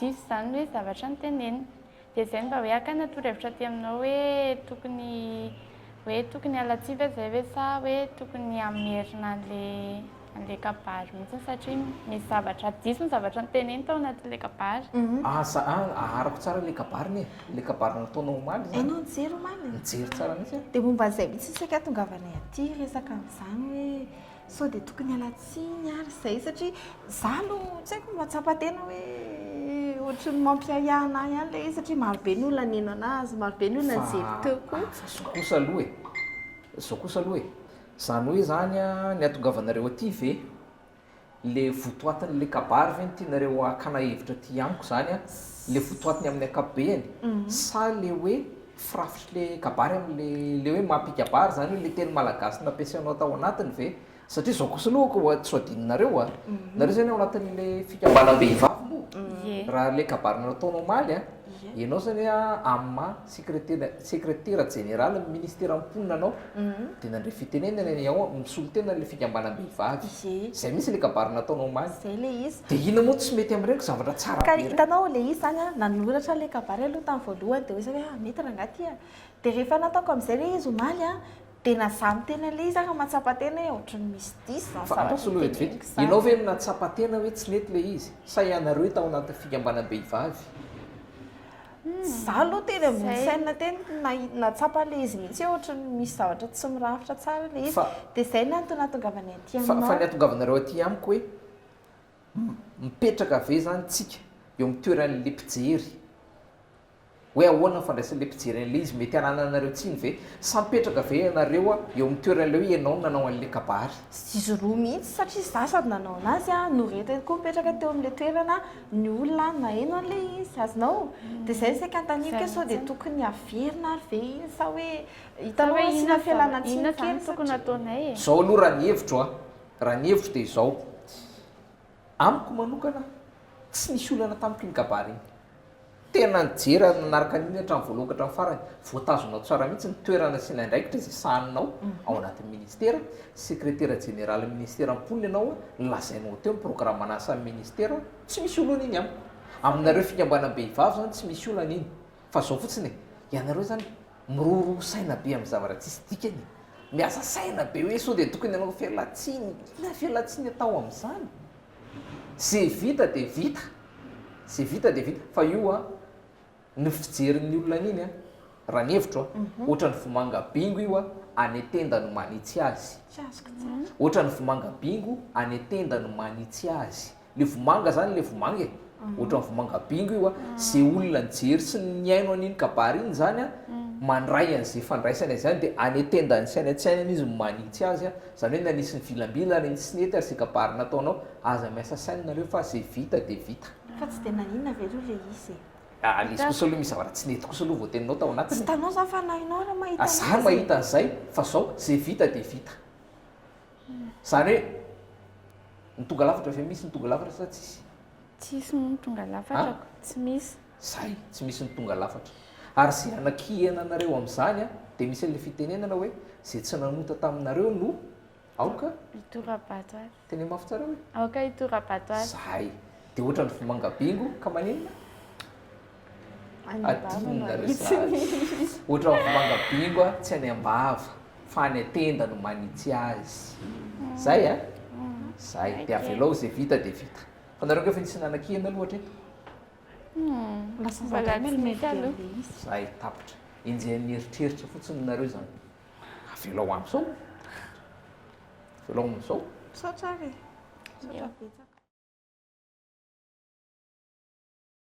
Diso izany ny hoe zavatra notenenina. Dia izay mba hoe hakana torohevitra aty aminao hoe tokony hoe tokony hiala tsia ve izay ve sa hoe tokony hamerina an'ilay an'ilay kabary mihitsy satria misy zavatra diso ny zavatra noteneniny tao anatin'ilay kabary. Aza aharako tsara ilay kabary anie, ilay kabary nataonao omaly izany. Ianao nijery omaly? Nijery tsara mihitsy aho. Dia momba an'izay mihitsy isika ahatongavanay aty hiresaka an'izany hoe. Sao dia tokony hiala tsiny ary izay satria izaho aloha tsy haiko mahatsapa tena hoe ohatry ny mampiahiahy anah ihany ilay izy satria maro be ny olona nino anazy, maro be ny olona nijery teo koa. Zao kosa aloha e, zao kosa aloha e, izany hoe izany ny hahatongavanareo aty ve ilay votoatin'ilay kabary ve no tianareo hakana hevitra aty amiko izany an, ilay votoatiny amin'ny ankapobeny sa ilay hoe Firafitry le kabary am le le hoe mampikabary zany hoe le teny malagasy nampiasainao tao anatiny ve? Satria zao kosa aloha ko tsy ho adinonareo a! Nareo zany ao anatin'ny le fikambanam-behivavy moa? Ie. Raha le kabary nataonao omaly a, ianao zany a am maha sekretera sekretera jeneralin'ny ministeran'ny mponina anao? dia nandre fitenenana ny ao amin'ny solontenan'ilay fikambanam-behivavy. Izay mihitsy ilay kabary nataony omaly. Izay ilay izy. Dia inona moa no tsy mety amin'ireny zavatra tsara be ireny? Ka hitanao ilay izy izany an, nanoratra ilay kabary aloha tamin'ny voalohany dia hoy izy hoe ah, mety rangahy ity an. Dia rehefa nataoko amin'izay ilay izy omaly an, dia na izaho miteny an'ilay izy ary mahatsapa tena hoe ohatry ny misy diso izany zavatra itenenako izany. Fa andraso aloha vetivety, ianao ve no nahatsapa tena hoe tsy nety ilay izy sa ianareo tao anatin'ny fikambanam-behivavy? Za aloha teny ambony saina teny nahatsapa an'ilay izy mihitsy hoe ohatran'ny misy zavatra tsy mirafitra tsara ilay izy. Dia izay no antony nahatongavany aty aminao. Fa fa ny hahatongavanareo aty amiko hoe mipetraka ve zany tsika eo amin'ny toeran'ilay mpijery? Hoe ahoana ny fandraisan'ilay mpijery an'ilay izy? Mety hanananareo tsiny ve? Sa mipetraka ve ianareo eo amin'ny toeran'ilay hoe ianao no nanao an'ilay kabary? Izy roa mihitsy satria za sady nanao an'azy no retina koa mipetraka teo amin'ilay toerana. ny olona any maheno an'ilay izy sazinao dia izay no saika anontaniako hoe sao dia tokony averina ary ve iny sa hoe hitanao hoe asiana fialana tsiny izany satria inona kay no tokony ataonay e? Izao aloha raha ny hevitro an, raha ny hevitro dia izao, amiko manokana tsy nisy olana tamiko iny kabary iny, Tena nijery ary nanaraka an'iny hatramin'ny voalohany ka hatramin'ny farany. Voatazonao tsara mihitsy ny toerana asiana andraikitra izay sahaninao ao anatin'ny minisitera. Sekretera jeneralin'ny minisitera mponina ianao, lazainao teo ny programan'ny asan'ny minisitera. Tsy misy olana iny amiko. Aminareo fikambanam-behivavy izany tsy misy olana iny. Fa izao fotsiny e, ianareo izany miroroa saina be amin'ny zavatra tsisy dikany e. Miasa saina be hoe sao dia tokony hanao felatsihy. Inona felatsihy ny atao amin'izany? Ze vita de vita, ze vita de vita, fa io an, ny fijerin'ny olona an'iny an, raha ny hevitro an, ohatran'ny vomanga bingo io an, any an-tenda no manitsy azy, ohatran'ny vomanga bingo any an-tenda no manitsy azy, le vomanga zany le vomanga e, ohatran'ny vomanga bingo io a, ze olona nijery sy nihaino an'iny kabary iny zany a, mandray an'ze fandraisany an'zany de any an-tendany sy any an-tsainany izy no manitsy azy a, zany hoe na nisy nivilambilana iny sy nety aza ze kabary nataonao, aza miasa saina nareo fa ze vita de vita. Fa tsy de naninona ve aloha le izy e? Ah le izy kosa aloha misy zavatra tsy nety kosa aloha voateninao tao anatiny e! Tsy hitanao zany fa na ianao ary mahita an'izay e! Za mahita an'izay fa zao, ze vita de vita. Zany hoe ny tonga lafatra ve misy ny tonga lafatra sa tsisy? Tsisy moa ny tonga lafatra ko, tsy misy. Zay, tsy misy ny tonga lafatra. Ary ze anakihena anareo amzany a, de misy anle fitenenana hoe, ze tsy nanota taminareo no aoka hitora-bato azy. Tena mafy tsara hoe. Aoka hitora-bato azy. Zay. De ohatrany vomanga bingo ka maninona? Adinona ry zary. Ohatran'ny vomanga bingo a, tsy any am-bava fa any an-tenda no manitsy azy. Zay a? Zay. Dia avelao izay vita dia vita. Fa nareo ange efa nisy nanakiana aloha hatreto? Lasa zandry mail mail be an'le izy. Zay, tapitra. Enjehan'ny eritreritra fotsiny nareo izany. Avelao amin'izao. Avelao amin'izao. Misaotra ary e. Misaotra betsaka.